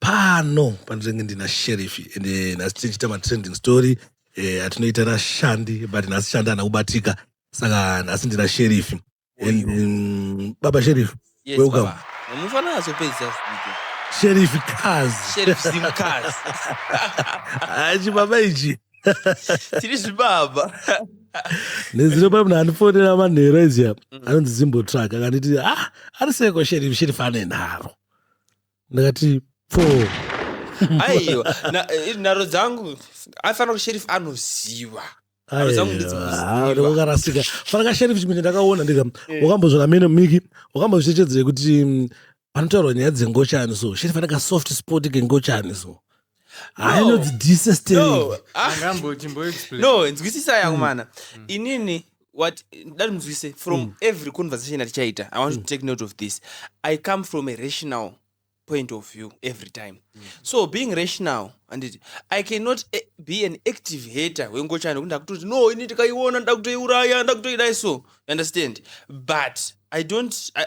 pano pandinenge ndina sherifi ende eh, nhasi tichiita matrending story eh, atinoita eh, nashandi but nhasi shandi ana kubatika saka nhasi ndina sherifi and um, baba sherifi yes, welcome munofanira azopedzisa sheriff cars sheriff zim cars hachi baba ichi tiri zvibaba nezino pamna andifonera manhero izia mm. anonzi zimbo truck akanditi ah ari seko sheriff sheriff ane nharo ndakati po aiwa na- eh, nharo dzangu afanira kuti sheriff anoziva Nharo dzangu ndedzinoziva. ndokarasika fana kasheriff chimene ndakaona ndika Eh. wakambozvona mene miki wakambozvichechedzera kuti mm, panotaurwa nyaya dzengochani so sheriff ane kasoft spot kengochani so hayi no disesteno ah. nzwisisa yangu hmm. mana hmm. inini what dati munzwise from mm. every conversation atichaita i want mm. to hmm. take note of this i come from a rational point of view every time mm. so being rational anditi i cannot eh, be an active hater wengochani kuti ndakutoti no ini ndikaiona ndakutoiuraya ndakutoidai so understand but i don't I,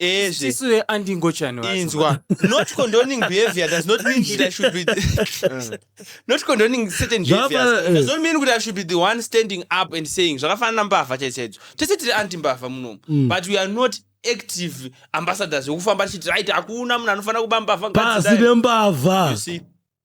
Ezve. Sisu ve andingochani vacho. Inzwa. Not condoning behavior does not mean that I should be. not condoning certain Zvapa- behaviors eh. does not mean that I should be the one standing up and saying zvakafanana mbavha chaidzo chaidzo. Tese tiri anti mbavha munomu. Mm. But we are not active ambassadors wekufamba tichiti right hakuna munhu anofanira kuba mbavha pasi ngadzidai. nembavha You see.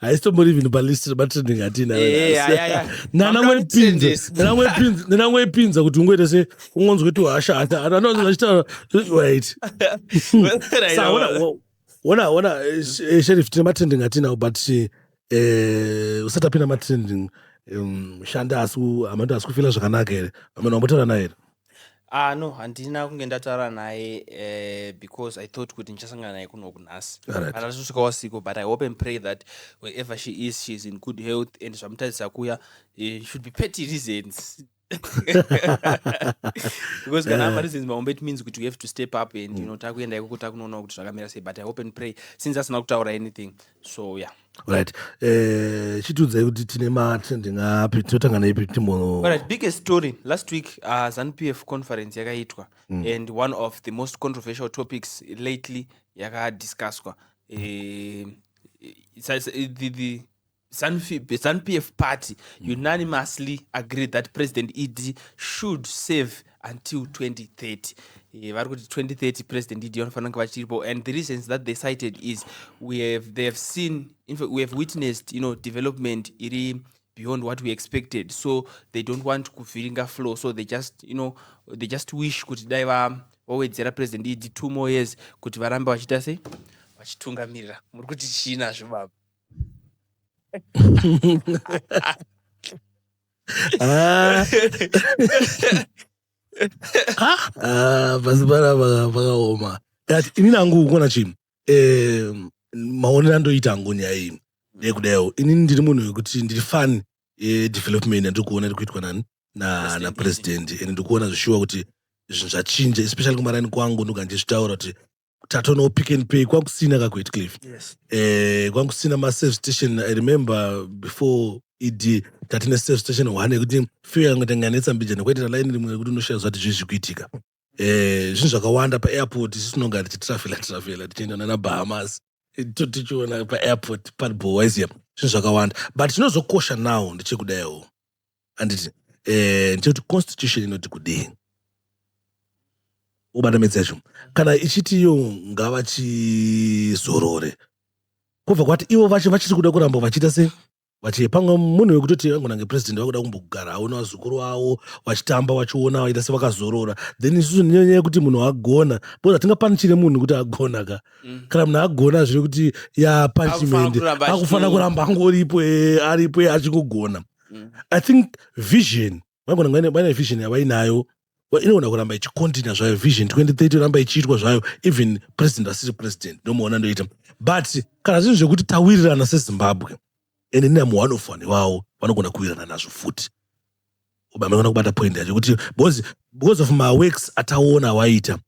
haisitombori even palist rematrending hatinanangoipinza kuti ungoita se ungonzwe tuhasha anoachitaura wait ona ona eh, sherif tine matrending hatinawo but eh, usati apinda matrending um, shanda asi amando asi kufila zvakanaka here ameno ambotaura naye here Ah no handina kunge ndataura naye uh, because i thought kuti ndichasangana naye kuno kunhasi Alright. handina kusvika wasiko but i hope and pray that wherever she is she is in good health and zvamutarisira kuya eh, should be petty reasons because kana apa reasons mahombe it means kuti we have to step up and you know takuenda ikoko takunoona kuti zvakamira sei but i hope and pray since asina kutaura anything so ya yeah right eh chitudzai kuti tine mati ndingapi tinotanga neipi timbonorit biggest story last week uh, zanupf conference yakaitwa mm. and one of the most controversial topics lately yakadiscusswa eh, zanupf party mm. unanimously agreed that president ed should save mm. until 2030 eh, vari kuti 2030 president idi vanofanira kunge vachiripo and the reasons that they cited is we have, they have seen infact, we have witnessed you know, development iri beyond what we expected so they don't want kuvhiringa flow so they just you know they just wish kuti dai vawedzera president idi two more years kuti varambe vachiita sei vachitungamirira muri kuti chii nazvo baba Ah. Ah, pasi panapa pakaoma But inini hangu kuona chinhu eh, maonero andoita hangu nyaya iyi ndeyekudaio inini ndiri munhu wekuti ndiri fan yedevelopment yandiri kuona iri kuitwa nani na- President. napresident and ndiri kuona zvishuwa kuti zvinhu zvachinja especially kumaraini kwangu ndogara ndichitaura kuti tatonawo pick and pay kwakusina kakuitcliff yes. eh, kwakusina maserve station i remember before ed tatine serve station one yekuti few yange tanganetsa mbijana kwaitira laini rimwe rekuti unoshaya zvati zvii zvikuitika eh, zvinhu zvakawanda paairport isu tinonga tichitrafela trafela tichienda nana bahamas eh, tichiona paairport padbowaisia zvinhu zvakawanda but chinozokosha now ndechekudaiwo handiti eh, ndikuti constitution inoti kudii ubata midzi yacho kana ichiti iyo ngavachizorore kubva kwati ivo vacho vachiri kuda kuramba vachiita se vati pamwe munhu wekutoti vangonange president vakuda kumbogara aona vazukuru avo vachitamba vachiona vaita sevakazorora then isusu nenyaya yekuti munhu agona bcause hatingapanichire munhu kuti agona ka mm. kana munhu agona zviri kuti ya punishment akufanira kuramba angoripo eh, aripo eh, achingogona mm. i think vision vagona vaine vision yavainayo inogona kuramba ichikontina zvayo vision 2030 ramba ichiitwa zvayo even president asiri president ndomuona ndoita but kana zvinhu zvekuti tawirirana sezimbabwe ende nina muone of vanhu iwawo vanogona kuwirirana nazvo futi ubamekona kubata point yacho kuti because of maworks ataona awaita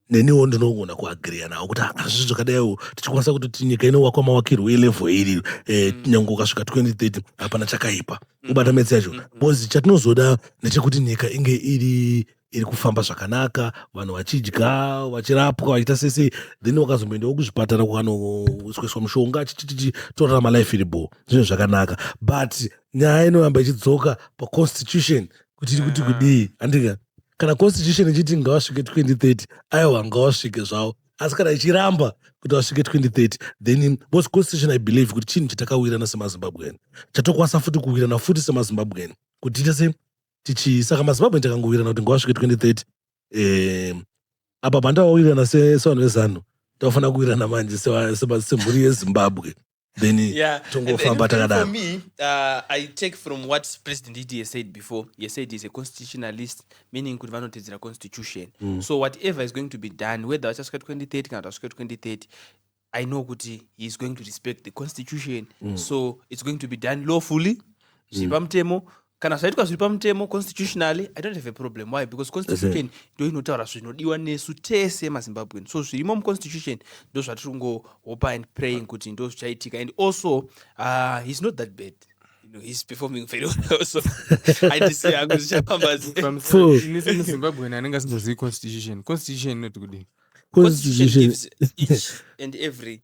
neniwo ndinogona kuagriya nawo kuti hazvizvi zvakadaiwo tichikwanisa kuti tinyika inowakwa mawakirwo elevel iri eh, mm. nyange ukasvika 2030 hapana chakaipa mm. ubata metsi yacho mm. bcause chatinozoda ndechekuti nyika inge iri iri kufamba zvakanaka vanhu vachidya vachirapwa vachiita sese then wakazomboendawo kuzvipatara kwanoisweswa mushonga achichichichi torarama life iri bho zvinhu zvakanaka but nyaya inoramba ichidzoka paconstitution kuti iri kuti kudii andika kana constitution ichiti ngavasvike 2030 aiwa ngavasvike zvavo asi kana ichiramba kuti vasvike 2030 then bcause constitution i believe kuti chinhu chatakawirana semazimbabwean chatokwanisa futi kuwirana futi semazimbabwean kuti tiite se tichi saka mazimbabwean takangowirana kuti ngavasvike 2030 eh, apa pandavawirirana sevanhu vezanu tavafanira kuwirana manje semhuri yezimbabwe then yeah. tongofamba takadaro me uh, i take from what president ed has said before he said he's a constitutionalist meaning kuti vanotedzera constitution mm. so whatever is going to be done whether vachasvika 2030 kana kuti vasvika 2030 i know kuti he is going to respect the constitution mm. so it's going to be done lawfully zviri mm. pamutemo mm. kana zvaitwa zviri pamutemo constitutionally i don't have a problem why because constitution ndo inotaura zvinodiwa nesu tese mazimbabwean so zvirimo muconstitution ndo zvatiri kungohopa and praying kuti ndo zvichaitika and also uh, he's not that bad No, he's performing very well so i just say hangu zvichafamba zimbabwean anenge asingazivi constitution constitution inoti kudini constitution gives each and every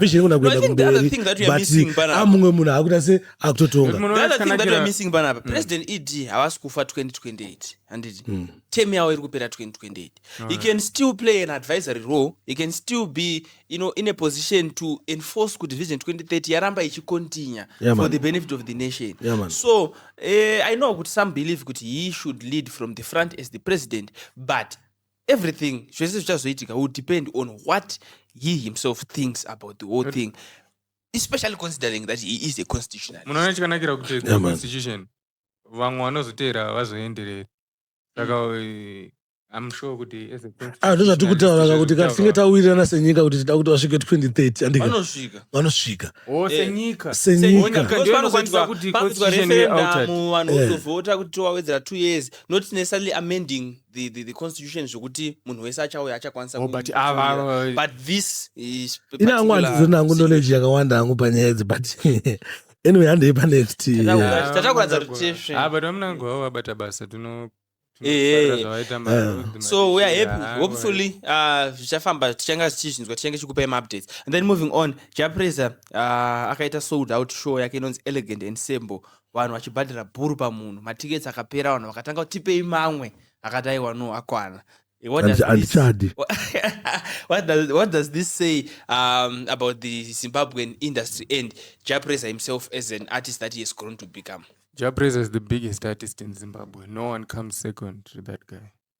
vision ikona No, I kuenda think the other kumberi thing that we are missing but panapa- amumwe munhu akuita se akutotonga Munhu The other thing that we are wakanakira- missing panapa president ed havasi kufa 2028 handiti term yavo iri kupera 2028 he can still play an advisory role he can still be you know, in a position to enforce kuti vision 2030 yaramba ichicontinue Yeah, for man. the benefit of the nation Yeah, man. so eh, i know kuti some believe kuti he should lead from the front as the president but everything zvese zvichazoitika will depend on what he himself thinks about the whole thing especially considering that he is a constitutional munoona chikanakira kuti Yeah, man. constitution vamwe vanozoteera vazoenderera saka eh, i'm sure kuti as a Ah, ndozvatiri kutaura ka kuti ka tisinge tawirirana senyika kuti tida kuti vasvike 2030 handika vanosvika vanosvika o senyika Senyika. Onyika Because ndiyo inokwanisa vanokwanisa- kuti vanokwanisa constitution be altered. referendum, vanhu Yeah. vozovhota kuti towawedzera two years not necessarily amending the, the, the constitution zvokuti munhu wese achauya achakwanisa oh, but ava but this is ina hangu handizona hangu knowledge yakawanda hangu panyaya idzi but anyway handei panext tatakuratidza kuti ah, but vamuna hangu vavo vabata basa tino eh, eh. Ah. so we are happy ah, hopefully zvichafamba tichanga tichizvinzwa tichange chikupai maupdates and then moving on japresa akaita sold out show yake inonzi elegant and sembo vanhu vachibhadhara bhuru pamunhu matickets akapera vanhu vakatanga kuti tipei mamwe akati aiwa no akwana Eh, what does Handisa- this- handichadi what does what does this say um, about the Zimbabwean industry and Japresa himself as an artist that he has grown to become? Jabrez is the biggest artist in Zimbabwe. No one comes second to that guy.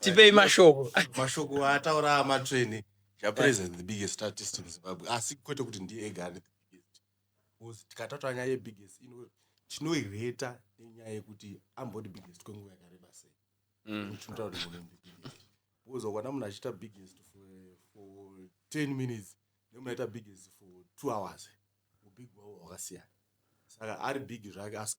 tipei mashoko mashoko ataura amatsvene japrez the biggest statist in zimbabwe asi ah, kwete kuti ndiye ega ane the biggest bcause tikataura nyaya yebiggest tinoireta nenyaya yekuti ambodi biggest kwenguva yakareba sei mm. tinotaura kuti munhu biggest bcause ukwana munhu achiita biggest for 10 minutes nemunaita biggest for two hours ubig wavo hwakasiyana saka ari big zvake asi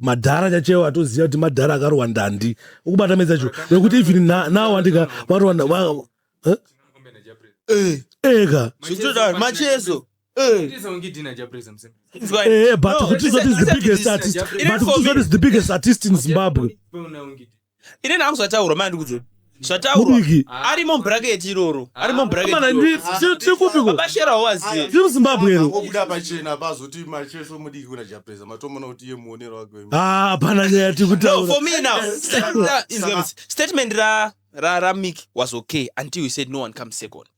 madhara chachewo atoziva kuti madhara akarohwa ndandi ukubata medza cho nekuti even nawo andika varohwa eka macheso Eh, eh, but Kutizote is the biggest artist. But Kutizote is the biggest artist in Zimbabwe. Ini nangu zvataurwa manje ndikudzei. Zvataurwa. Mudiki. Ari mu bracket iroro. Ari mu bracket. Amana iroro. ndi- tiri- tiri kupi ko? Baba Shera waziye. Tiri muZimbabwe ero. Obuda pachena pazoti macheso mudiki kuna Japeza matomona kuti iye muonero wake wemene. Ah, hapana nyaya tiri No, kutaura. for me now. Statement ra- is- statement ra ra ra Mick was okay until he said no one comes second.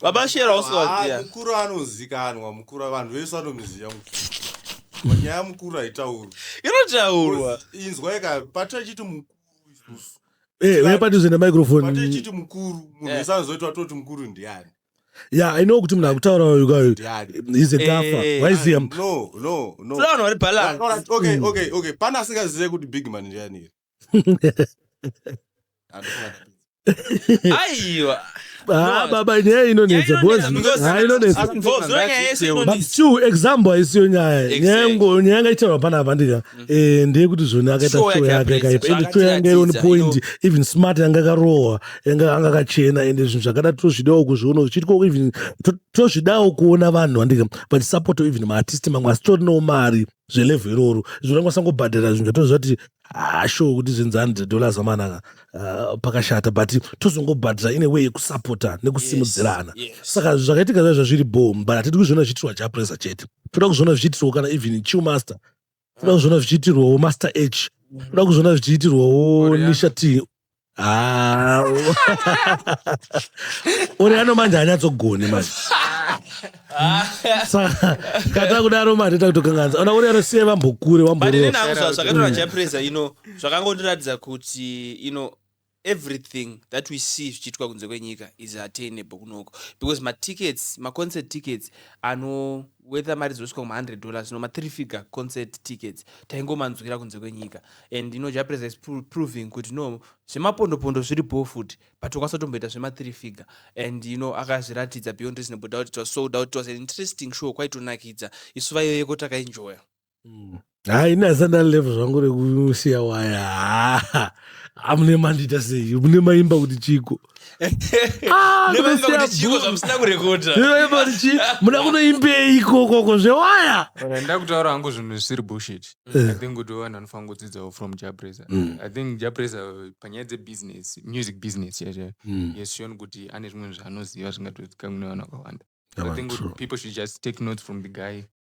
vamashera usivaziya ah, mukuru anozikanwa mukuru vanhu vese vanomuziva mukuru nyaya mukuru haitaurwa inotaurwa inzwa ika pati achiti mukuru isusu eh, uye pati zvienda microfone pati achiti mukuru munhu eh. wese anozoita atoti mukuru ndiani ya i know kuti munhu akutaura uyu he's a dafa eh, waiziya ah, no no no vanhu vari balance okay okay okay pana asingazive kuti big man ndiani here aiwa Ah, baba nyaya inonetsa because nyaya inonetsa but still example haisiyo nyaya nyaya ngo nyaya ngaitaurwa pana avandika eh ndiye kuti zvoni akaita show yake yakaipa and show yanga iri on point even smart yanga akarohwa yanga anga kachena and zvinhu zvakada tozvidawo kuzviona zvichiitwa even tozvidawo kuona vanhu vandika vachisupport even maartist mamwe asitorinawo mari zvelevhu iroro zvinokwanisa kubhadhara zvinhu zvatozviva kuti hasho kuti zvenzani dzedollars amanaka uh, pakashata but tozongobhadhara ine way yekusapota nekusimudzirana yes, yes. saka zvakaitika zva zvazviri bom but hatidi kuzviona zvichiitirwa japresa chete toda kuzviona zvichiitirwawo kana even chiw master toda kuzviona zvichiitirwawo master h toda kuzviona zvichiitirwawo nisha t Ah, u- uri ano manje anyatsogone manje saka kata kudaro manje takutokanganisa ona uri anosiye vambokure but wamborova inini hangu zva- zvakatora chapreza ino zvakangondiratidza kuti ino everything that we see zvichiitwa kunze kwenyika is attainable kunoko because matickets maconcert tickets ano whether mari dzosvika kuma 100 dollars no ma three figure concert tickets taingomanzwira kunze kwenyika and ino japresa is proving kuti no zvemapondopondo zviri bho futi but tokwanisa tomboita zvema three figure and you know akazviratidza beyond reasonable doubt it was sold out it was an interesting show kwaitonakidza isu vaiyoyeko takaenjoya mm. ha ini asanda level zvangu rekusiya waya ha amune mandita sei mune maimba kuti chiko ah, muda kunoimbei ikokoko zvewaya nda kutaura hangu zvinhu zvisiri bushit eh. i think kuti vanhu vanofanira kudzidzawo from japresa mm. i think japresa panyaya dzebusiness music business chaizvo mm. yesioni kuti ane zvimwe zvaanoziva zvingatozikamune vanhu vakawanda i think people should just take notes from the guy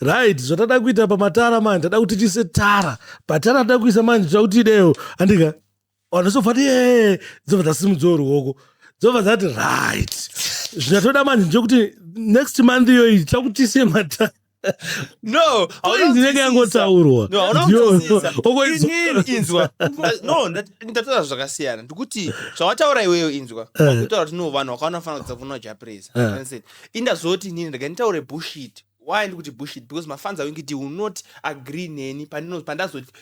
right zvatada kuita pamatara manje ndada kuti tiise tara patara ndada kuisa manje tira kuti idewo andika vanhu zobva ti ee dzobva dzasimudzawo ruoko dzobva dzati right zvatoda manje ndekuti next month iyoyi tira kuti tiise matara no ndinenge yangotaurwa inzwa no ndataura zvakasiyana ndikuti zvawataura iweyo inzwa eh. kutaura kuti no vanhu vakaona fanira kudza kunoja presa eh. indazoti inini ndega nditaure bushit why ndikuti bushit because mafans awingiti will not agree neni pandazoti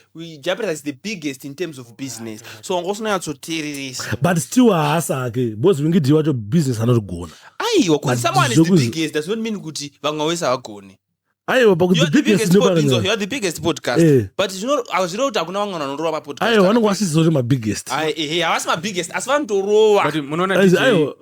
japres is the biggest in terms of business so wanga usinanyatsoteereresa but still haasa hake because wingiti wacho business anotigona aiwa because someone is the biggest does not mean kuti vamwe wese havagone aiwa the biggest podcast eh. but hazvireva kuti hakuna vamwe vanorova mapodcast aiwa vanenge vasiziva kuti mabiggest eh, eh, havasi mabiggest asi vanotorova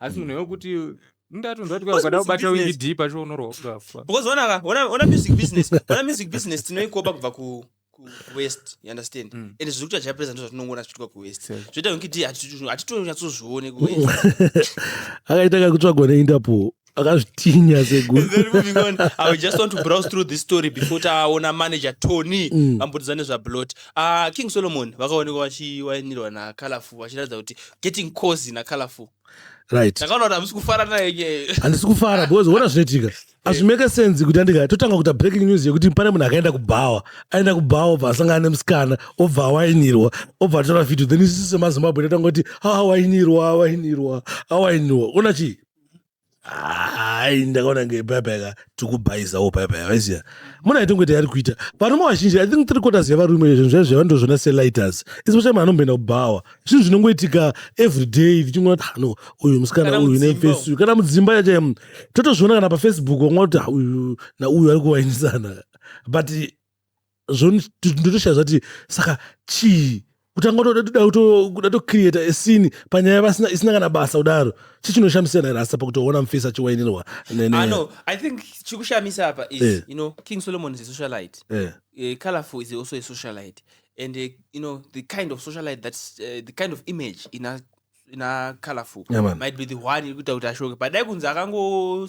asi munhu wekuti ndatonzwa kuti Because ukada music kubata business- wingidi pacho unorwa ukafa because ona ka ona ona music business ona music business tinoikopa kubva ku ku ku west you understand Mm. and zviri kuita chapresa ndizvo zvatinongoona zvichiitwa ku west Same. zvoita kuti hatitonyatsozione ku west akaita kakutsvagwa neinterpol akazvitinya seguru Then moving on, I would just want to browse through this story before taona manager Tony Mm. vambudzane zvablot. Ah, King Solomon vakaonekwa vachiwainirwa naColorful vachiratidza kuti getting cozy nacolorful right ndakaona kuti hamusi kufara naye nye handisi kufara because ona zvinoitika hazvimeke sense kuti andika totanga kuita breaking news yekuti pane munhu akaenda kubhawa aenda kubhawa obva asangana nemusikana obva awainirwa obva atora video then isisu semazimbabwe tatanga kuti awainirwa awainirwa awainirwa ona chii hai ndakaona nge payapaya ka tikubhaizawo payapaya vaiziva muna ito ngoita yari kuita varume vazhinji i think three quarters yevarume zvinhu zvaizvo zvavandozviona selighters especially mwana omboenda kubhawa zvinhu zvinongoitika every day tichingoona kuti hano ah, uyu musikana uyu nefesi uyu kana mudzimba yacho mm, totozviona kana pafacebook wanga kuti ah, uyu nauyu ari kuvainisana but zvondotoshaya zvati saka chii kutanga kuda tocreata esini panyaya vasina isina kana basa kudaro chii chinoshamisira nairasa pakutoona mufesi achiwainirwa no, i think chikushamisa apa is yeah. you know king solomon is a socialite yeah. uh, colorful is also a socialite and uh, you know the kind of socialite that's uh, the kind of image ina ina colorful yeah, might be the one iri kuita kuti ashoke padai kunzi akango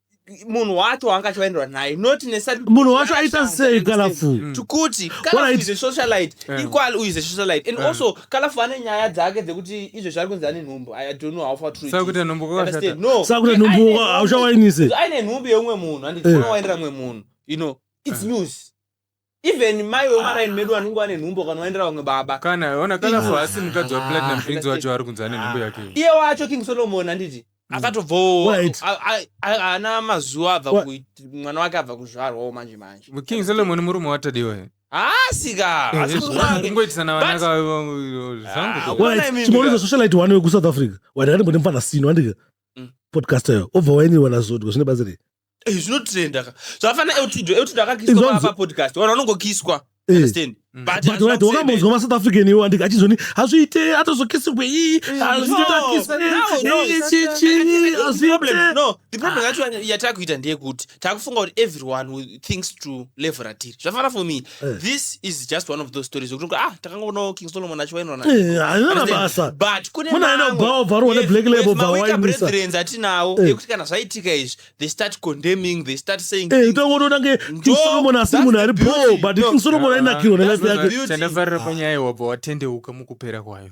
munhu wacho waanga achivaendera naye not munhu wacho aita sei kalafu mm. tikuti socialite mm. equal uyu ze socialite and mm. also kalafu ane nyaya dzake dzekuti izvezvi ari kunzi ane nhumbu i don't know how far true sakuti nhumbu kwakashata no sakuti nhumbu hauchawainise aine nhumbu yeumwe munhu and eh. waendera umwe munhu you know it's eh. news even mai wemaraini medu vanenge vane nhumbu kana waendera vamwe baba kana ona kana for asi mukadzi wa platinum prince wacho ari kunzi ane nhumbu yake iye wacho king solomon anditi akatobvawo Wait. a- a- a- haana mazuva abva Wa- kuit- mwana wake abva kuzvarwawo manje manje king solomon murume watadiwa here haasika Eh, asi yes, murume wake kungoitisana But- vanaka zvangu Ah, ko. Why? Why? chimaona izo socialite wani wekuSouth Africa. Wani kati mbone mfana sino andika. Mm. Podcaster yo. Obva waini wana zodwa zvine bazi rei. Eh, zvinotrenda ka zvafana eutido eutido akakiswa Izvozvo- papa podcast wana unongokiswa Eh. understand but but hazvina right kusema. wakambonzwa masouth african iwo andika achizoni hazviite atozokisirwe iyi hazvitotakiswe no, no. iyi chichi The problem- hazviite no, the problem yacho yatakuita ndeyekuti takufunga kuti everyone will- thinks to level ratiri zvafana for me Eh. this is just one of those stories zvokuti ah takangoonawo king solomon achiwainirana Eh, haina basa but kune Muna haina mamwe- kubhawa bva rona Yes, Black Label with bva mawika waimisa. brethrens atinawo Eh. ekuti kana zvaitika izvi they start condemning they start saying Eh, things. utongotoona kunge King Ndo- Solomon asi that's munhu the ari beauty. bho but No. King Solomon Ah, ainakirwa that's nelife the yake beauty. chandafarira panyaya wabva watendeuka mukupera kwayo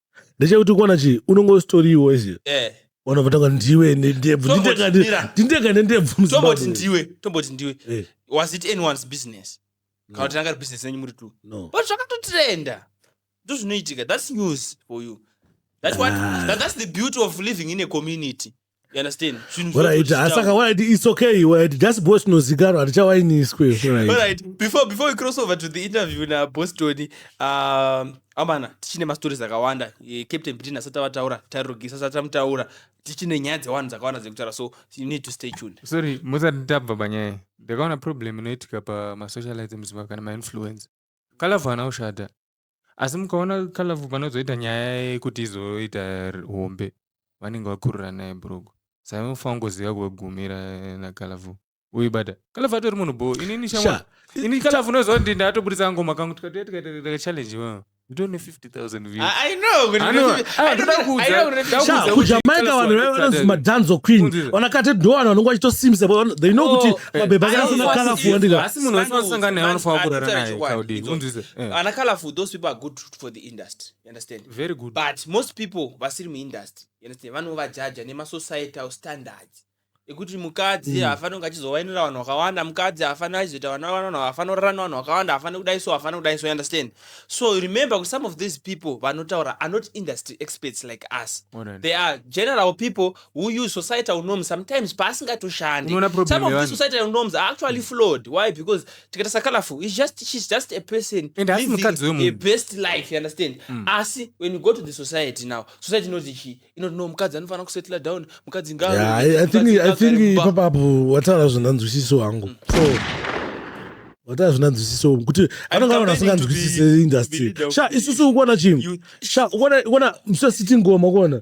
ndechekuti kuona chii unonge usitoriwo izi eh vanobva tanga ndiwe nendebvu Tomboti mira. ndindega nendebvu tomboti muzimbabwe ndiwe tomboti ndiwe Eh, was it anyone's business No. kana kuti ranga ri business renyu muri two no but zvakatotrenda ndozvinoitika that's news for you that's what Ah. that, that's the beauty of living in a community You understand? Zvinhu What I zvinhu did, zvichitaurwa. asaka what I did, it's okay. What I did, just boss nozikaro hatichawainiswe. What I did. Alright, before before we cross over to the interview na boss Tony, um, amana tichine mastories akawanda eh, captain Britain asati avataura tairogisa asati amutaura tichine nyaya dzewanhu dzakawanda dzekutaura so you need to stay tuned sorry musati tabva panyaya ndakaona problem inoitika pamasocialite muzimbabwe kana mainfluence kalavhu ana ushada asi mukaona kalavu panozoita nyaya yekuti izoita hombe vanenge vakurura naye bhurugu saka munofanira kungoziva kwegumira nakalavu uibata kalavu atori munhu bho inini shamwa ini kalavu unoziva kuti ndatoburitsa ngoma kangu tikatoya tikaita challenge wewe nditone 50000kujamaica vanhu vaive vanonzi madanzo queen vanakati ndo vanhu vanonge vachitosimbisa they know kuti oh, eh, mabhebha akasana kalafu wandikaasi munhu wese vanosangana naye vanofanira kurara naye Eh. ana colorful those people are good for the industry you understand very good but most people vasiri muindustry you understand vanovajaja nemasocietal standards ekuti mukadzi Mm. haafaniri kunge achizowainira vanhu vakawanda mukadzi haafaniri achizoita vana vanhu haafaniri kurara nevanhu vakawanda haafaniri kudai so haafaniri kudai so you understand so remember kuti some of these people vanotaura are not industry experts like us Alright. they are general people uyu society unoms sometimes paasingatoshandi some of this society unoms are actually flawed why because tikatasa colorful is just she's just a person and living a best life you understand mm. asi when you go to the society now society inoti chi inoti no mukadzi anofanira kusettle down mukadzi ngaro yeah, I, I think, I think ipapapo wataura zvindanzwisiso hangu mm. so wataa zvina nzwisiso kuti anenge aona asinganzwisise industry sha isusu ukuona chii sha ukuona sitting goma ukuona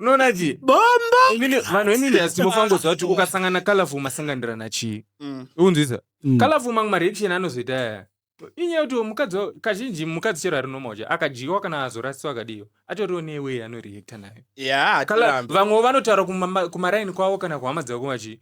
unoona chii bombo Inini- vanhu venini hasitimofangoziva kuti ukasangana colorful masanganirana chii Mm. unzwisa Mm. colorful mamwe mareaction anozoita aya inyaya yekuti uyu mukadzi wa- kazhinji mukadzi chero ari normal cha akadyiwa kana azorasiwa akadiyo atoriwo newe anoreacta nayo Yeah, Kala- hatirambi. vamwe vanotaura kumama- kumaraini kwavo kana kuhama dzavo kumachi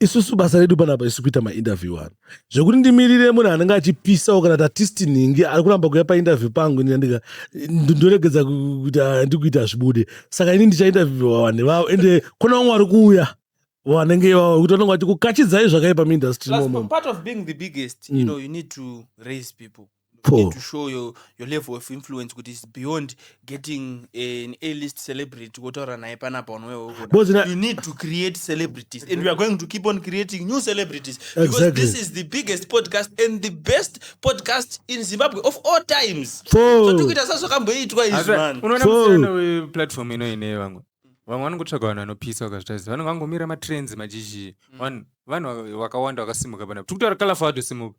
isusu basa redu panapa isu kuita mainterview ano zvekuti ndimirire munhu anenge achipisawo kana tatisti nhingi ari kuramba kuya painterview pangu ndika ndoregedza kuti handikuita ah, zvibude saka ini ndichainterviewa vanhu ivavo ende kona vamwe vari kuuya vanenge ivavo kuti vanenge vachikukachidzai zvakaipa muindustry part of being the biggest mm. you know you need to raise people Paul. You need to show your, your level of influence kuti is beyond getting an a list celebrity wotaura naye panapa unoweoda you need to create celebrities and we are going to keep on creating new celebrities exactly. because this is the biggest podcast and the best podcast in zimbabwe of all times zvatikuita so sazvakamboitwa izvi man unoona musiyana weplatform ino ine vamwe vamwe vanongotsvaga vanhu vanopisa vakazvitaisa vanhu vangomira matrends majizhii mm. vanhu vakawanda vakasimuka panapa tikutaura kalafa vatosimuka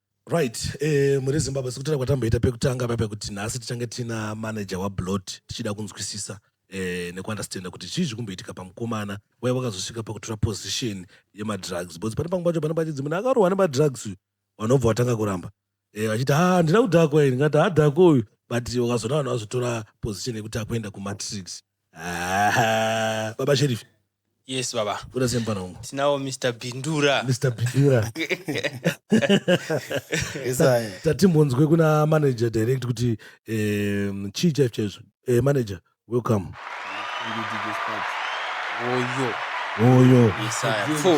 Right, eh, muri Zimbabwe sekutaura kwatamboita pekutanga paipa kuti nhasi tichange tina manager waBlot tichida kunzwisisa eh, nekuunderstanda kuti chii zviri kumboitika pamukomana waya wakazosvika pakutora position yemadrugs because pane pamwe pacho pane pachidzi munhu akarohwa nemadrugs uyu vanobva vatanga kuramba eh, vachiti ha handina kudhakwa ini ngati hadhakwa uyu but wakazoona vanhu vazotora position yekuti akuenda kumatrix Ah, baba sheriff yes baba kuda sei mupana wangu tinawo mr bindura mr bindura Isaya. tatimbonzwe kuna manager direct kuti um, chii chaizvo chaizvo Eh, manager welcome oyo oyo isaya fo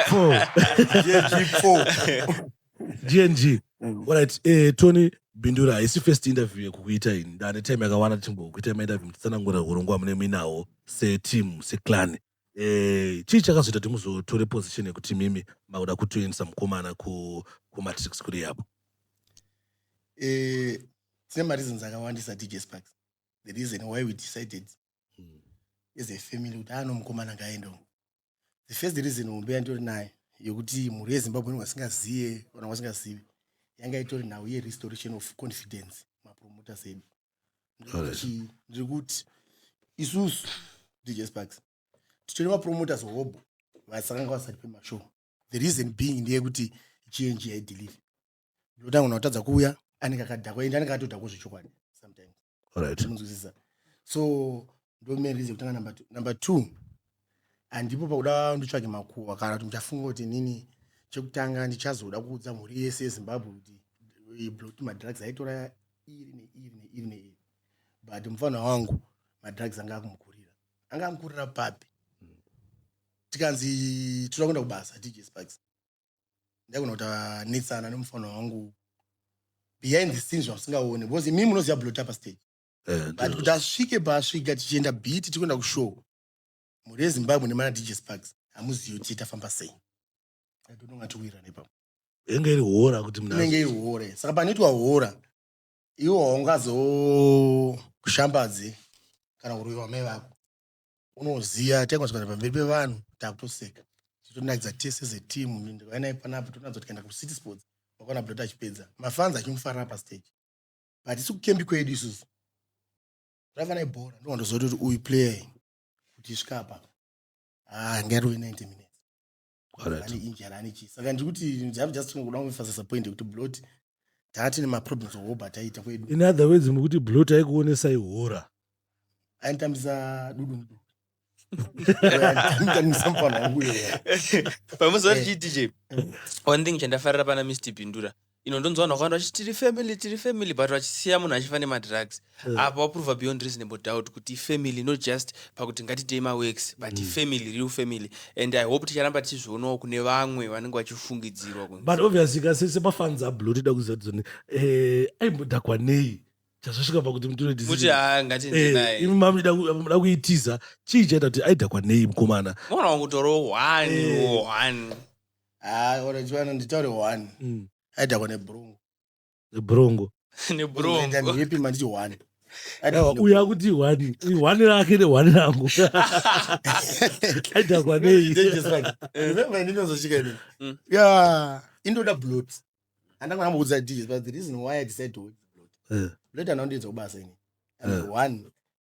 Four. JG4. gng orit eh, tony bindura haisi first interview yekukuita ini ndane time yakawanda tichimbokuita mainterview muchitsanangura urongwa hwamune muinawo seteam seclan eh, chii chakazoita kuti muzotore position yekuti mimi makuda kutoendesa mukomana ku, kumatrix kuri yabo eh, tine mareasons akawandisa dj sparks the reason why we decided hmm. as a family kuti ano mukomana ngaendoo the first reason hombe yanditori nayo yekuti mhuri yezimbabwe ni wasingazive kana wasingazivi yanga itori nhau yerestoration of confidence mapromoters edu ndiri kuti isusu dj sparks titori mapromoters hobho vasakanga vasati pemashow the reason being ndeyekuti gng yaidelive ndotanga unatadza kuuya anenge akadhakwa ende anenge atodhakwa zvechokwadi sometimes right munzwisisa so ndo main reason kutanga number two number two handipo pakuda ndotsvage makuhwa kana kuti muchafunga kuti nini chekutanga ndichazoda kuudza mhuri yese yezimbabwe kuti blot madrugs aitora iri neiri neiri neiri but mufana wangu madrugs anga akumukurira anga amukurira papi tikanzi toda kuenda kubasa dj sparks ndaigona kuti anetsana nemufanwa wangu behind the scenes zvamusingaone because imimi munoziva blota pastage Eh, but kuti asvike paasvika tichienda beat tikuenda kushow mhuri yezimbabwe nemana dj sparks hamuzivi kuti tafamba sei atononga tikuwira nepa inenge iri hora kuti mna inenge iri hore saka panoitwa hora iwo haungazoshambadze kana kuroyiwa mai vako unoziva tanga tikana pamberi pevanhu takutoseka titonakidza tese seteam ndikauya naye panapa tonatsa kuti kaenda kucity sports wakaona bdot achipedza mafanzi achimufarira pastage but isi kukembi kwedu isusu zvaiva naye bhora ndovandoziva kuti uyu player kuti svika apa ah, ngairove 90 minutes Alright. ane injury ane chii saka ndiri kuti ndava just kuda kumufasisa point yekuti blot taa tine maproblems ohoba taita kwedu in other words mukuti blot aikuonesai hora ainitambisa dudu muduku ainitambisa mufana wangu uyo pamuzoa tichiti je one thing chandafarira pana mr pindura ino ndonzwa vanhu vakawanda vachiti tiri family tiri family but vachisiya munhu achifa nemadrugs mm. apa waprova beyond reasonable doubt kuti ifamily not just pakuti ngatitei maworks but mm. ifamily real family and i hope ticharamba tichizvionawo kune vamwe vanenge vachifungidzirwa but obviously kasi semafans ablo tida kuziva tizoni eh, aimbodhakwa nei chazvasvika pakuti mutoiti ah, eh, imi mamuda kuitiza chii chaita kuti aidhakwa nei mukomana mwana wangu toro one eh. one Ah, or chivanhu nditaure one. Mm. Aidhakwa nebhurungu. Nebhurungu. Nebhurungu. Ndaita ndipi manditi one. Aidhakwa nebhurungu. Uya kuti one. Uyu one rake ne one rangu. Aidhakwa nei. Dangerous right. Remember ndinozosvika ini. Mm. Yeah. Indoda blood. Andanga ndamboudza DJ but the reason why I decided to work blood. Eh. Blood anondiedza kubasa ini. And Eh. one.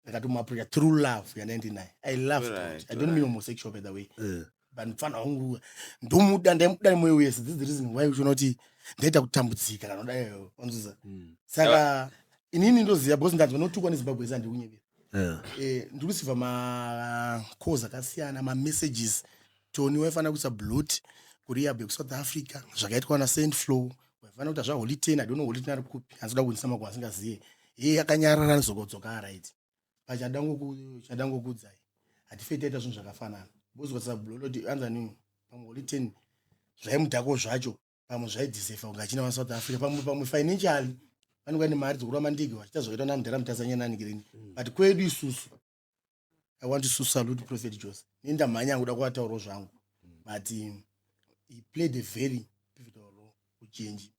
ndakatomuaproacha through love yandandinaye i loved right, it. i don't mean homosexual by the way Eh. but mfana wangu ndomuda ndaimuda nemoyo wese this is the reason why uchiona kuti ndaita kutambudzika kana kudaiyo wanzviza Mm. saka inini ndoziva because ndanzwa notukwa nezimbabwe yese handiri kunyevera Eh. Eh, ndiri kusiva macols akasiyana mamessages tony waifanira kuisa blot kurehab yekusouth africa zvakaitwa na saint flow vanoda kuti zvaholy ten i don't know holy ten ari kupi anzoda kuinisa makuva asingazive heye akanyarara anozokodzoka arit pachada ngokuchada ngokudzai hatifei taita zvinhu zvakafanana bozokotsa buloloti anzani pamwe holy ten zvaimudhako zvacho pamwe zvaidzisefa kunge achina vasouth africa pamwe pamwe financially vanenge vane mari dzokuramba ndege vachiita zvakaitwa namudhara mutazanyananikirini but kwedu isusu i want to salute prophet jose ini ndamhanya kuda kuvatauro zvangu but um, he played a very pivotal role kuchenji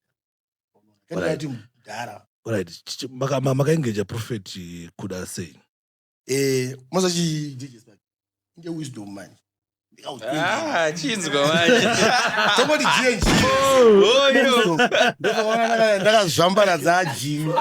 kandidati mudhara right makaengeja prophet kuda sei eh, mazachi dj inge wisdom manje Ah, chinzwa manje Somebody change. oyo Ndakaona ndaka- ndakazvambara dzajimi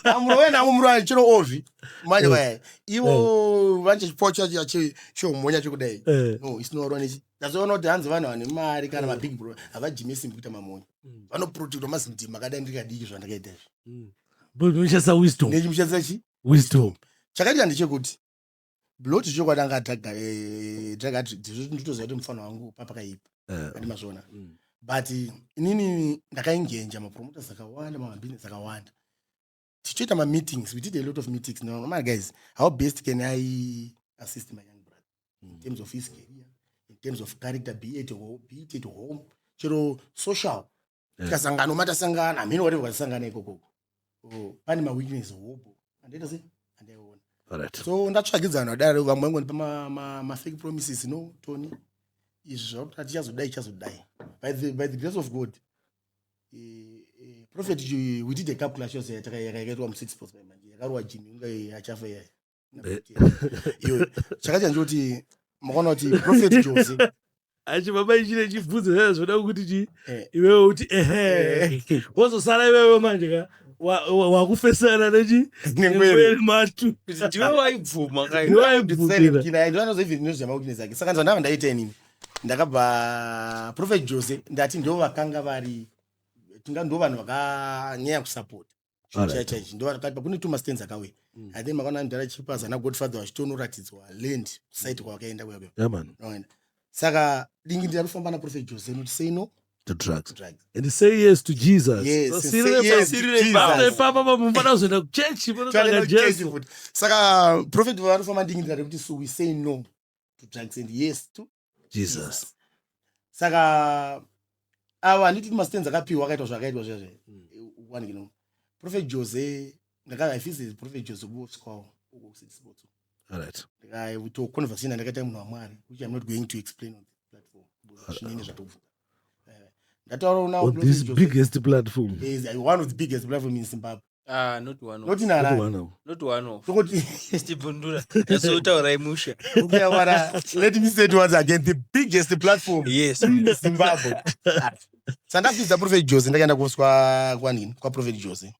amuro wena amumurani chero ovi manje vaya ivo vanje chipo chacho chi- chomhonya chokudai Eh. no isinoronisi ndazoona kuti hanzi vanhu vane mari kana mabig bro havajime simbi kuita mamonya vanoprotekta mazindima akadai ndikadiki zvandakaita izvi But unoshandisa wisdom. ndechimushandisa chi Wisdom. chakaitika ndechekuti blot chokwadi anga ataga eh, taga ati dzizvo nditoziva kuti mufana wangu papakaipa Eh, andi mazviona mm. but inini ndakaingenja mapromoters akawanda mabhizinesi akawanda tichitoita mameetings we did a lot of meetings no, my guys how best can i assist my young brother in Mm. terms of his career in terms of character be it, ho- be it at home chero social Eh. tikasangana uma tasangana hamheno whatever kwatisangana ikoko Oh, pane maweakness hobo andaita se andaiona Alright. so ndatsvagidzana dare vamwe vangondipa ma- ma- mafake promises no tony izvi zvakuti hatichazodai chazodai by the, by the grace of god eh, eh, prophet eh, we did a calculation yataka- yaka- yakaitwa mu six pots by manje yakarowa jini inga eh, achafa iyaya iwe chakaita ndikuti mukaona kuti prophet jose achi baba ichine chibvunzo zaa zvoda kuti chi eh. iwewe uti ehe eh. wozosara iwewe manje ka wakufesana nechi nengwere matu ndiwe waibvuma kainoanozoivinoziamakutinezake saka ndizva ndava ndaita inini ndakabva prophet jose ndati ndo vakanga vari tinga ndo vanhu vakanyaya kusapota chichacha ichi ndovakati kune two mastands akauya mm. i think makaona mdara chipaza nagodfather vachitionoratidzwa land kusite kwavakaenda kuya kuya saka dingi ndira kufamba naprofet jose noti sei no to drugs. drugs. And say yes to Jesus. Yes, so say yes to Jesus. Papa pamufana zvenda kuchurch vanotsvaga Jesu. Saka prophet vanofamba ndingi ndikati kuti so we say no to drugs and yes to jesus saka ava handiti kuti mastands akapiwa akaitwa zvakaitwa zviya zve one you know prophet jose ndaka i feel is prophet jose kuosikwawo uko kusidi sports all right ndikaito conversation yandakaita munhu wamwari which i'm not going to explain on the platform because zvinenge zvatobvuka Eh, ndataura now on Prophet this Jose- biggest platform is uh, one of the biggest platform in Zimbabwe. Ah, not one off. noti Kuti narani one hour. Not one off. tokoti Tichibvundura. Tasotaurai musha. ukuyawara let me say it once again the biggest platform Yes. is zimbabwe sandafidza prophet jose ndakaenda kuswa kwanini kwaprophet jose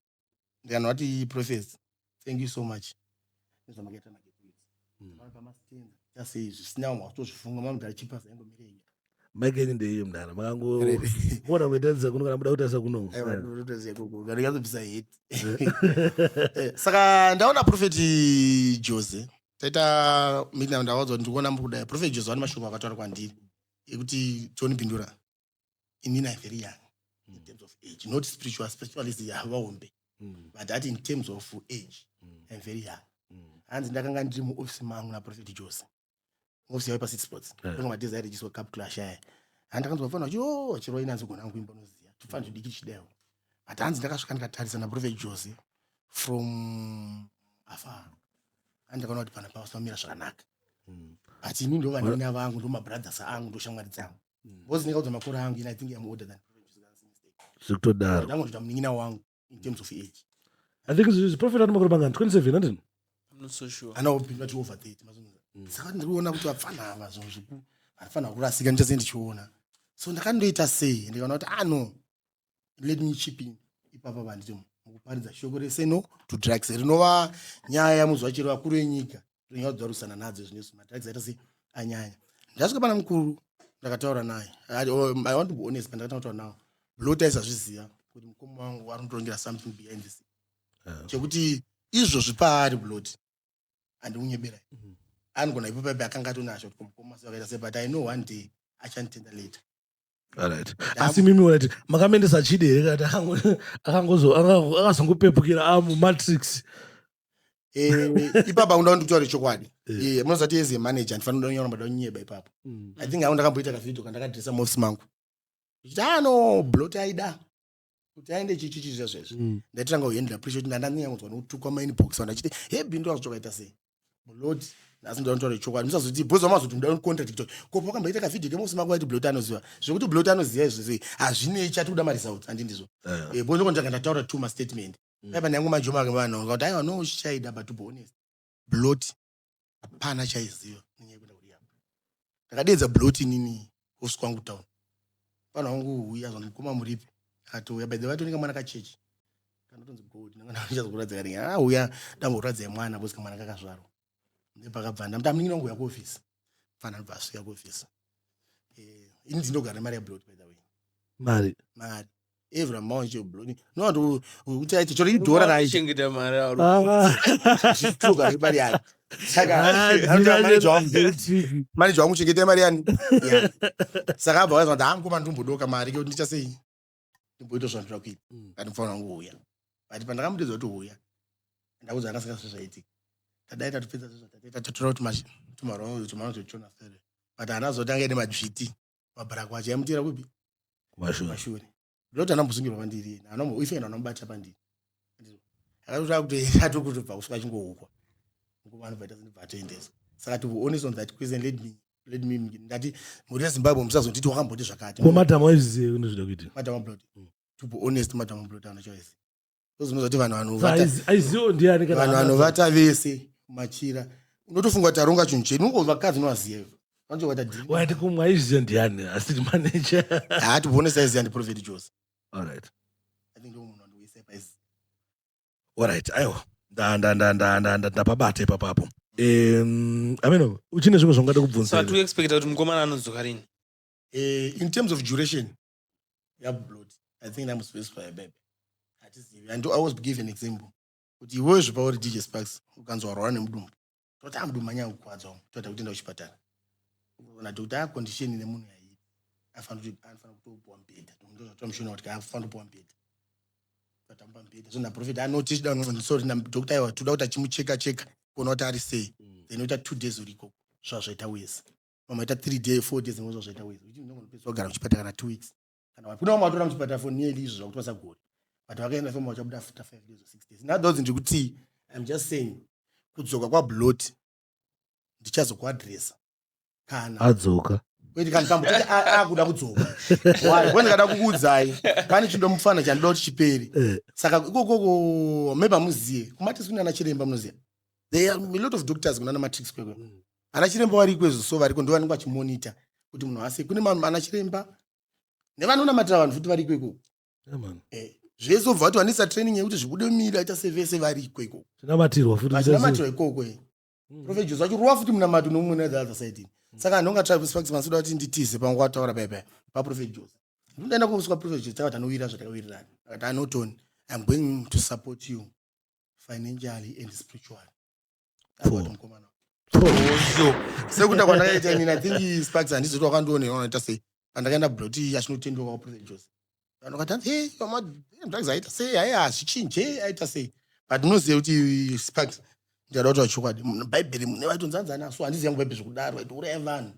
ndikanhu ati prophet thank you so much nezvamakaita magetways mm. pamastenza chasei zvisina vamwe vakutozvifunga mamugara chipa zaingomirei mike yenyu ndeiyo mdara makangoona kuitaisa kuno kana muda kutaisa kunoaazobvisa eh, heti eh, saka ndaona profeti jose taita midna ndawadzwa ndikuona mukudai profeti jose vane mashoko akataura kwandiri ekuti toni bindura inini i very young mm. in terms of age not spiritual spiritualist yavaombe mm. but that in terms of age mm. im very young mm. hanzi ndakanga ndiri muofisi mangu naprofet jose muofisi yave pacity sports yeah. anga matiza airejiswa cup clash aya handakanzwa fana kuti o chiroi nanzi gona angu imba unoziva tofana zvidiki chidayo but hanzi ndakasvika ndikatarisa naprofet jose from afar hanzi ndakaona kuti pana pavasamira zvakanaka mm. but ini ndovanina vangu ndomabrothers angu ndoshamwari dzangu because ndingaudza makore angu and i think i'm older than zviri kutodaro ndangotoita munin'ina wangu in terms of age i think zvi- prophet ane makore mangani 27 handini I'm not so sure. anopinda ti over 30 mazungura saka ndiri kuona kuti vapfana ava zvinhu zviku varifana kurasika ndichase ndichiona so ndakandoita sei ndikaona kuti ah no let me chip in ipapa vanditi mukuparidza shoko reseno to drugs rinova nyaya yamuzuva chero vakuru enyika tonyauya kudzarwisana nadzo izvi nesu matracks aita sei anyanya ndasvika pana mukuru ndakataura naye oh, i want to be honest pandakatanga kutaura nawo lo taisazviziva kuti mukoma wangu wari kutongera something behind this ah. chekuti izvozvi paari bloti handikunyeberai mhm. anogona ipo paipe akanga atonasho kuti mukoma sakaita sei but i know one day achanditenda later Alright. Asi mimi urati makamendesa chidi here kati akango- akangozo- akango- akazongopepukira amu matrix. Eh, ipapa undaona ndikutaure chokwadi Eh. Eh, munozati as a manager ndifanira kunyora mada kunyeba ipapo i think awo ndakamboita kavideo kandakadresa mofs mangu ichiti ano blot aida kuti aende chichichi zviya zvezvo mm. ndaitanga kuhandle appreciate ndandanyanyodzwa nokutukwa main box vanhu achiti he bindu azotoka ita sei mulodi nhasi ndinotaura chokwadi musazoti bhozi vamazoti muda contract tiktok ko pakamboita kavideo kemusi mako vaiti blot anoziva zvekuti blot anoziva izvo sei hazvinei chati kuda maresults handi ndizvo eh. eh, bhozi kondanga ndataura two mastatement mm. aiva nyangu majoma vanhu kuti aiwa no shida but to be honest blot hapana chaiziva nenyaya yekuenda kurihab ndakadeedza blot inini hosi kwangu town vanhu vangu huya zvanzi mukoma muripi akatouya by the way atoneka mwana kachechi kanotonzi gold nangandichazokuratidza kani ah huya ndamboratidzai mwana bcause kamwana kakazvarwa ndepakabva ndamuti amuningini wangu uya kuofisi mfana anobva asvika kuofisi Eh, ini ndindogara nemari yablot by the way mari mari evra manje bloni nowanto kuti aite chori idhora raichengeta mari arotuka ah. mari yani saka maneja wangu chengeta mari yani saka abva waizwa kuti hangu mandimbodoka mari kekuti ndicha sei ndimboita zvandira kuita mm. kati mufanira wangu uya but pandakamutedza kuti uya ndakuza akasaka sezvaitika tadai tatopedza zvezvatatatora kuti tumarwa tumarwa tuchona sere but anazoti ange nemadzviti pabrakwacha yamutira kupi kumashure ndoti anambozungirwa pandiri yena anoife yena anamubata pandiri akatoti akutoenda atokutobva kusvika achingoukwa nguva anobva ita sendibva atoendesa saka to honest on that question let me let me ndati mhuri yezimbabwe musazonditi wakamboti zvakati ko madam waizviziva kunezvida kuitika madam ablot mm. to be honest madam ablot anochoiziva ndozvinozoti vanhu vanovanhu vanovata vese machira unotofunga kuti aronga chinhu chedu ungo vakadzi novaziva wati kumwe aiziva ndiani asiri maneja haa tibone saiziva ndiprofeti jose alright i think ndomunhu andoisa paizi alright aiwa ndapabata ipapapo um ameno uchine zvimwe zvangada kubvunza so atuexpecta kuti mukomana anodzoka rini eh, in terms of duration yakublot i think ndamusveswa yabebe hatizivi and i was give an example kuti iwewe zvipa uri dj sparks ukanzwa warwara nemudumbu toti amudumbu anyaya kukwadza umu toda kutenda kuchipatara ukaona kuti aya condition nemunhu yaiyi anofanira kutopuwa mubhedha ndozotoa mushona kuti anofanira kupuwa mubhedha tatamba mubhedha so naprofet anoti ah, chida sorry nadokta iwa toda kuti achimucheka cheka kuona kuti ari sei mm. then oita two days uri ikoko zvazvaita wese vamwe vaita three day four days nekuza zvaita wezi uchi ndongonopedziswa kugara muchipatara kana two weeks kana kune vamwe vatora muchipatara for nearly izvo zvakuti vasagoni but vakaenda fema vachabuda after five days or six days now those ndiri kuti im just saying kudzoka kwablot ndichazokuadressa kana adzoka wait kana tambo kuti akuda kudzoka why kwani kada kukuudzai pane chindo mufana chandoda kuti chiperi eh. saka ikokoko maybe amuziye kumati sina na chiremba munoziya there are a lot of doctors kunana matrix kwekwe mm. Ana chiremba variko izvo so variko ndovanenge vachimonita kuti munhu ase kune ana chiremba nevanonamatira vanhu futi variko ikoko eh, zvese obva vati vanisa training yekuti zvibude mumiri aita sevese variko ikoko tinamatirwa futi tinamatirwa ikoko eh. hmm. prophet jose vachirova futi munamato noumwe ne the other side ini hmm. saka anhu onga travis fax masuda kuti nditize pamwe kwataura paya paya paprofet jose ndindaenda kumuswa prophet jose takati anowira zvatakawirirana akati anotoni iam going to support you financially and spiritually sekuta kwandakaita inini ithink sparks handizoti wakandionera unoita sei pandakaenda broti achinotendeuka kuprofet jose vanhu vakati hey mama drugs aita sei ayi hazvichinje aita sei but unoziva kuti sparks ndikada kutaura chokwadi bhaibheri mune vaitonzanzana so handiziva ngo bhaibheri zvekudaro vaitouraya vanhu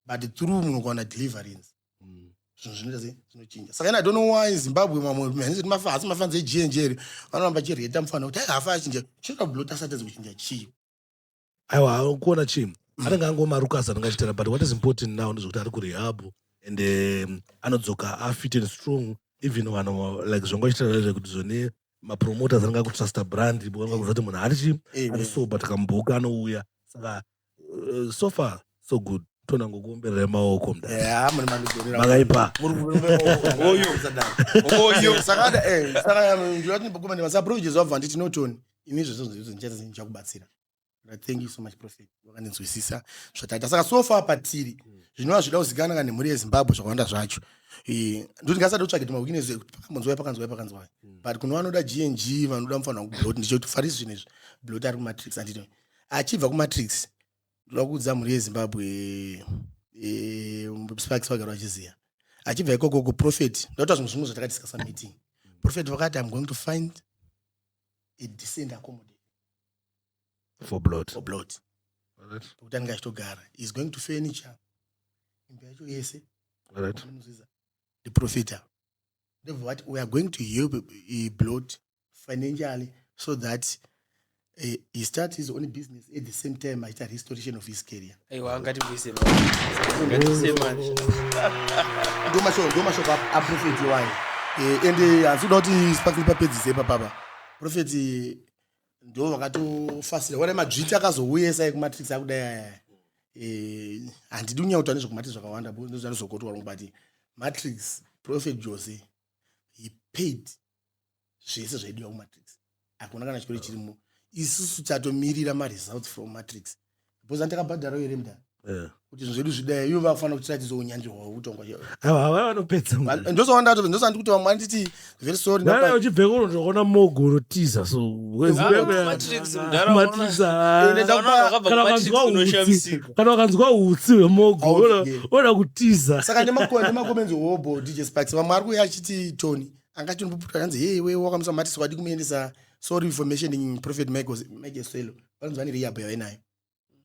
but through munokuwana deliverance mm. zvinhu zvinoita sei zvinochinja saka i don't know why zimbabwe mamwe hanzi mafa asi mafanzi egnj ri vanoramba vachireta mufana kuti aihafa achinja chinoda kublota asatadzi kuchinja chii aiwa kuona chii mm. anenge angomarukasa anenge achitera but what is important now ndezvekuti ari kurehabhu and um, anodzoka afit and strong even vanhu like zvanga chitaura zvekuti zvone mapromoters anga kutrusta brand vanga kuzati munhu arichi eh, eh. arisoba takamboka anouya saka Uh, so far so good tona ngokuomberera maoko mdamagaipa ndimasaprovijes wabva nditi notoni ini zvesozvozvozvichakubatsira thank you so much prophet wakandinzwisisa zvataita saka so far patiri zvinova zvida kuzikana ka nemhuri yezimbabwe zvakawanda zvacho eh, ndoti ngasati utsvage tumawikines ekuti pakanzwai pakanzwai pakanzwai hmm. but kuno vanoda gng vanoda mufanira kublot ndichoti farisi zvinezvi blot ari kumatrix anditi achibva kumatrix ndoda kuudza mhuri yezimbabwe eh, sparks vagara vachiziva achibva ikoko kuprofet ndotaura zvimwe zvimwe zvatakatiscasa meeting profet vakati im going to find a decent accommodation for blood for blood kuti anenge achitogara is going to furniture imba yacho yese ndiprofita ndobva vati we are going to help eh, blood financially so that uh, he start his own business at the same time aita restoration of his career ndomashoko aprofeti wayo eh, and eh, hanzi kuda kuti sparkle papedzise papapa profeti ndo vakatofasira wana madzviti akazouya sai kumatrix akudai aya Eh, handidi kunyanya kutaura nezvekumatrix zvakawanda ndozvandizokotwa longobati matrix prophet jose he paid zvese zvaidiwa kumatrix hakuna kana chikoro chirimo isusu tatomirira maresults from matrix because antakabhadharawo here mdara eh. kuti zvinhu zvedu zvidai ivo vakufanira kutiratidza unyanzvi hwavo kutongwa ndosandaandikuti vamwe vanditi very sorryuchibveko ndokuona mogo unotiza sokana wakanzwa utsi hwemogo oda kutiza saka nemakomenzi hobo dj sparks vamwe ari kuya achiti tony anga chinomboputwa kanzi hei iwe wakamusa mati so wadi kumuendesa sorry for mentioning prophet michael swelo vanonzi vane rehab yavainayo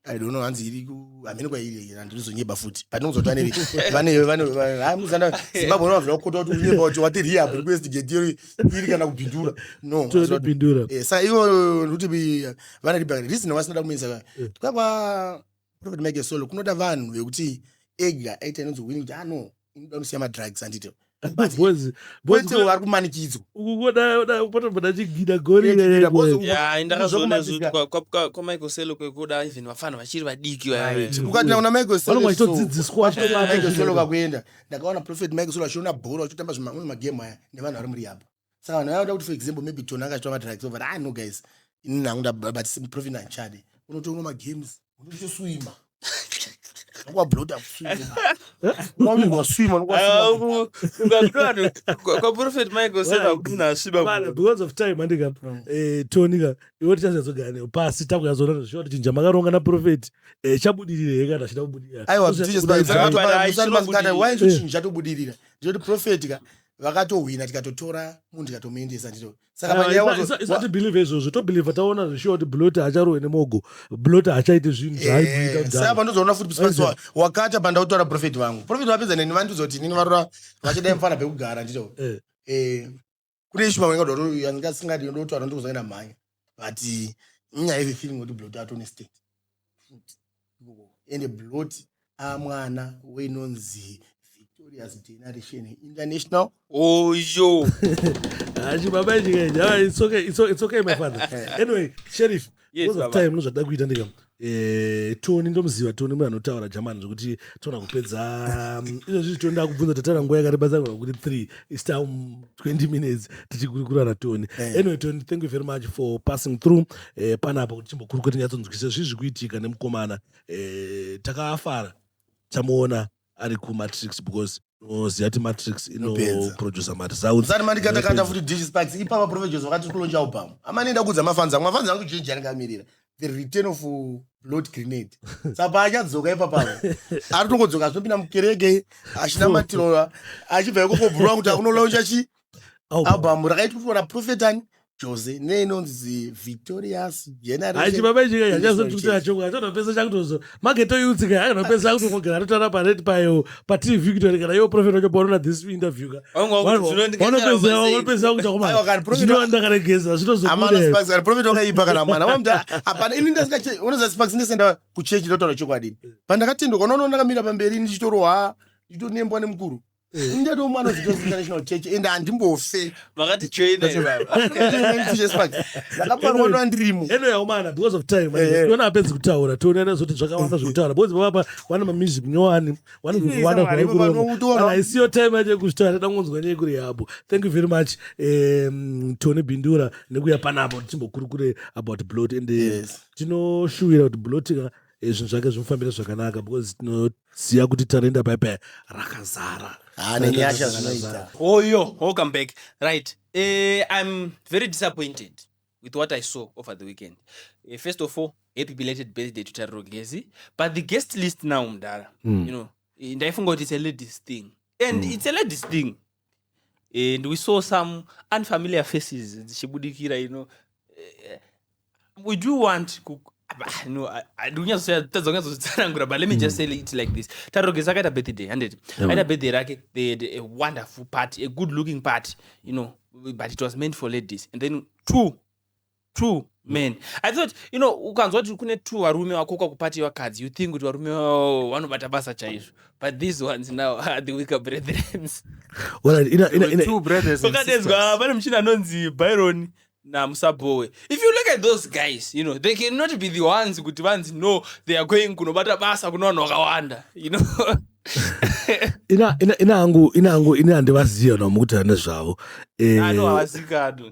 i don't know hanzi iri hamene kwairi handinozonyeba futi but ndinonzwa kuti vane vaneamuzana zimbabwe unovazoda kukota kuti unyeba kuti wati rehab rekuestigate iri iri kana kubindura no bindura eh, sa ivo kuti vane ribhakati risina vasinoda kumuendesa eh. kwakwa prophet michael solo kunoda vanhu vekuti ega aita inonzi wini kuti ano ah, inoda unosiya madrugs anditi kwete vari kumanikidzwa ukungodapotombona chigida gorindakazvionazvkwamichael selo kwekuda even vafana vachiri vadiki ukatenda kuna michael selo kakuenda ndakaona prophet michael selo achiona bhora achitamba zvimamwe magemu aya nevanhu vari muri yabo saka vanhu vanoda kuti for example maybe tona akaitwa madrugs over ah no guys ini nangu ndabati simprofin anchade unotoona magames unochitoswima kwablota kwaprofet michael sena kuti unasvibabecaus of time andika mm. eh, tonika iwe tichazazogara newo pasi takuyazoona zviwa tichinja makaronga naprofeti eh, chabudirire he kana achida kubudirira aiwa tichesaaaiwaichochinja tobudirira ndinoti profeti ka vakatohwina tikatotora munhu tikatomuendesa ndito saka panyaya wacho- wa- isatibhilivhe izvozvo tobhilivha taona zvishuwa kuti blota hacharowe nemogo blota hachaite zvinhu Eh, zvaaibuita saka kudhara pandozoona futi Maize. pasi wakata pandautora profeti vangu profeti vapedza neni vandiudza kuti nini varora vachidai mufana pekugara ndito Eh. Eh, kune ishu vamwe ngadoro yandingasingadi ndotora ndikuzoenda mhanya but ini aive feeling kuti blot atone state ende blot amwana wenonzi victorious generation international oyo hachi baba chikaita it's okay it's okay my father anyway sheriff Yes, was of baba. time nozvada kuita ndika Eh, toni ndomuziva toni mwe anotaura jamani zvekuti tona kupedza mm, izvo zvizi toni ndakubvunza tataura nguva yakareba dzangu kuti three is down 20 minutes tichikurukura natoni Eh. anyway toni thank you very much for passing through eh, panapa kuti timbokurukura tinyatsonzwisisa zvii zviri kuitika nemukomana eh, takafara tamuona ari kumatrix because unoziva kuti matrix Inopedza. inoproducer maresults usati mandikatakata futi dish sparks ipapa profeges wakati kulonja album amani ida kuudza mafans angu mafans angu chinji anikamirira the return of uh, blood grenade sapa achadzoka ipapa ari tongodzoka azopinda mukereke achinamatira achibva ikoko bhurwa kuti akunolaunja chi oh. album rakaitwa na prophet ani jose neinonzi victorious generationachibabaichikaachazotikuachoatopesa chakutozo maketoyutsika akanopesa akutongogara atotara pared payo patv victory kana yo prophet wacho paonona this interview ka wanopesa kuchakomandakaregeza zvitozoprophet wakaipa kana mwana wamda hapana ini ndasikaonoza sparks ndesenda kuchechi ndotaura chokwadini pandakatendwa unoona ndakamira pamberi ndichitoroha ndichitonemba nemukuru Eh. ndati umwe anozita international church and handimbofe vakati choina ndakaparwa ndo andirimo eno yaumana because of time eh, eh. tiona apedzi kutaura tione anazoti zvakawanda zvekutaura because vavapa vana mamusic nyowani vanaaisiyo time yacho yekuzvitaura tida kungonzwa nyaya kuri yabo thank you very much um, tony bindura nekuya panapo tichimbokurukure about blot and tinoshuwira kuti blotika Eh, zvinhu zvake zvimufambira zvakanaka because tinoziva kuti tarenda paya paya rakazara Ah, nenyasha zvinoita oyo welcome back right eh, i'm very disappointed with what i saw over the weekend eh, first of all happy belated birthday to tariro gezi but the guest list now mdara Mm. you know eh, ndaifunga kuti it's a ladies thing and it's a ladies thing and we saw some unfamiliar faces dzichibudikira you know eh, we do want ah, no ndikunyazotsanangura but let me just mm. say it like this tarogesa akaita birthday handiti aita birthday rake they had a wonderful party a good looking party you know but it was meant for ladies and then two two men i thought you know ukanzwa kuti kune two varume wakoka kupati vakadzi you think kuti varume vao vanobata basa chaizvo but these ones now are the weaker brethrens Well, in a, in a, in a, Two brothers and pakadedzwa sisters. pane muchina anonzi byron namusabowe if you look at those guys you know they cannot be the ones kuti vanzi no they are going kunobata basa kuna vanhu vakawanda you know ina ina ina hangu ina hangu ina handivaziva nomukuti nezvavo Eh, ano havazikanwi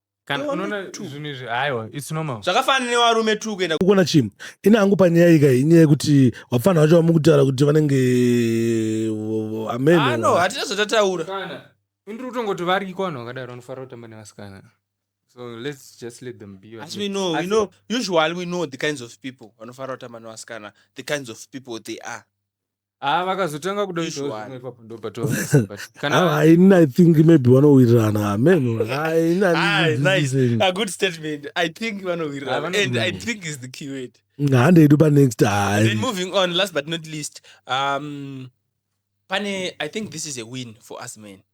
Kana Iwe unoona mutu. zvinhu izvi haiwa it's normal. zvakafanana nevarume tu kuenda kukona chii ini hangu panyaya iyi kai inyaya yekuti vapfanha vacho vamukutaura kuti vanenge Ah, no, ameno hatina zvatataura Kana indiri kutongoti variko vanhu vakadaro vanofanira kutamba nevasikana. So let's just let them be. asi we know we know usually we know the kinds of people vanofanira kutamba nevasikana the kinds of people they are Ah, vakazotanga kuda kuitawo Usual. zvimwe ipapo ndopatovaisa but Ah, kana I, I think maybe vanowirirana amen I, I, Ah, this is nice. the thing. A good statement. I think Ah, vanowirirana. vano- And I think is the key word. hande yedu panext ah, Then moving on, last but not least, um, Pane, I think this is a win for us men.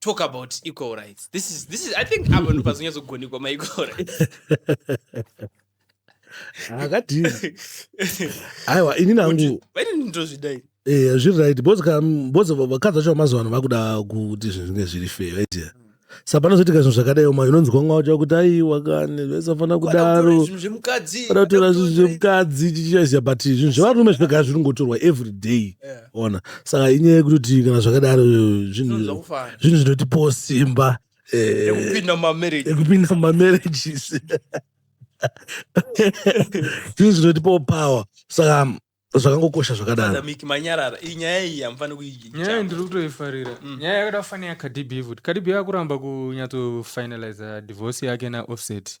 talk about equal rights this is this is i think apa ndopazonyatsogonikwa ma equal rights akadini aiwa ini nangu ndozvidai eh zviri right because ka because vakadzi vacho vamazuva ano vakuda kuti zvinhu zvinge zviri fair right yeah. sa panozoitika zvinhu zvakadai uma inonzwa mwa wacho kuti aiwa kani zvaisafanira kudaro vanotora zvinhu zvemukadzi chichichaziva but zvinhu zvevarume zvinoga zviringotorwa every day yeah. ona saka inyaya yekutoti kana zvakadaro zvinhu zvinhu zvinotipawo simba eh, ekupinda mumamarriage ekupinda mumamarriages zvinhu zvinotipawo power saka zvakangokosha zvakadaro Father Mick manyarara iyi nyaya iyi hamufani nyaya iyi kuiicha ndiri kutoifarira nyaya yakada kufanira yakadb futi kadb akuramba kunyatsofinaliza divorce yake naoffset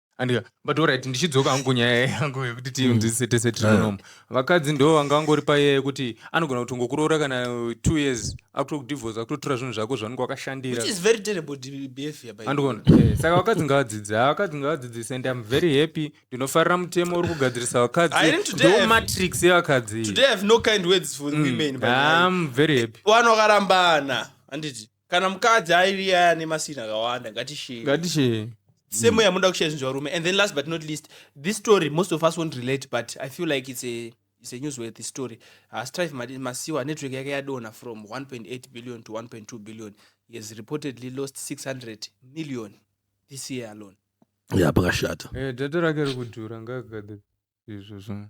andika but orit ndichidzoka hangu kunyaya yangu yekuti tiunzisitese tinonomo vakadzi ndo vanga vangori paya yekuti anogona kuti ngokuroora kana two years akutokudivhors akutotora zvinhu zvako zvanenge wakashandira andigona eh, saka vakadzi ngavadzidze vakadzi ngavadzidzise and im very happy ndinofarira mutemo uri kugadzirisa vakadzi ndo matrix yevakadzi mm, very happy vanokarambana handiti kana mukadzi aive aya ane masini akawanda ngatishee ngatishee same yamuda mm. kushare zvinhu zvarume and then last but not least this story most of us won't relate but i feel like it's a it's a newsworthy story hastrive ah, masiwa network yake yadonha from 1.8 billion to 1.2 billion he has reportedly lost 600 million this year alone ya pakashata eh, data rake rikudhura ngagade izvo zvino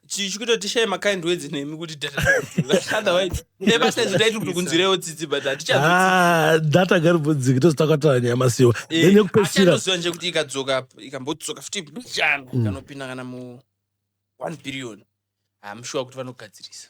chichikuitoti shai makind words nemi kuti datanebasaizotaitukutikunzirewo tsitsi but hatichadata ah, garibvudziki tozotakataa nyaya masiwa eh, nekupesiraatoziva nje kuti ikadzoka ikambodzoka futi mbichana mm. kanopinda kana mu one billion hamshuwa ah, kuti vanogadzirisa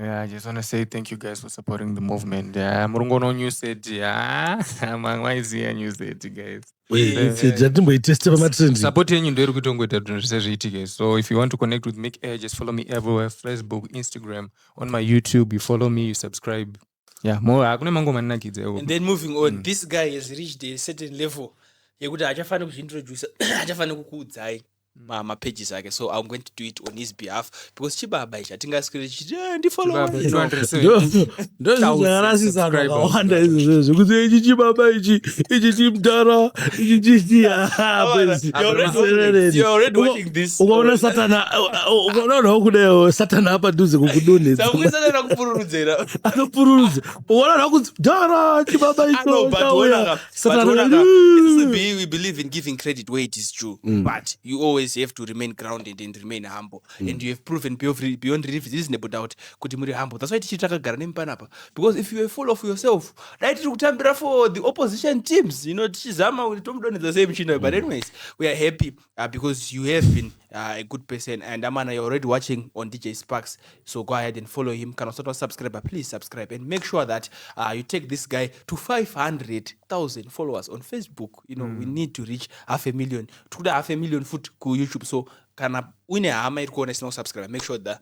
Yeah, I just want to say thank you guys for supporting the movement. Yeah, Murungo no new set. Yeah, Mangwa is here new set, guys. jatimboiteste pamatrendsupport yenyu ndoiri kutongoita zvinhu zvese zviitike so if you want to connect with mic air just follow me everywhere facebook instagram on my youtube you follow me you subscribe yeah mo ah, kune mangoma anonakidza iwo and then moving on mm. this guy has reached a certain level yekuti hachafanira kuzviintroduce hachafanira kukuudzai mm. mapages ake so i'm going to do it on his behalf because chibaba ichi hatingaswere chiti eh, ndifollowndoziakarasisakawanda izvozvo zvekuti eh, ichi chibaba ichi ichi chimdara ichi chichiaerereei this ukaona satana ukaonaonawo kudayo satana apa duze kukudonhedzakuisanana kupururudzera anopururudza ukaonaonawo kunzi dara chibaba ichowe believe in giving credit where it is true mm. but you always have to remain grounded and remain humble mm. and you have proven beyond reasonable doubt kuti muri humble that's why tichiri takagara nemi panapa because if you are full of yourself dai tiri kutambira for the opposition teams you know tichizama kuti tomudonhedza sei muchinayo but mm. anyways we are happy Uh, because you have been uh, a good person and amana you're already watching on dj sparks so go ahead and follow him kana usati wasubscriber please subscribe and make sure that uh, you take this guy to 500000 followers on facebook you know mm. we need to reach half a million tikuda half a million foot kuyoutube so kana uine hama iri kuona isina kusubscribe make sure that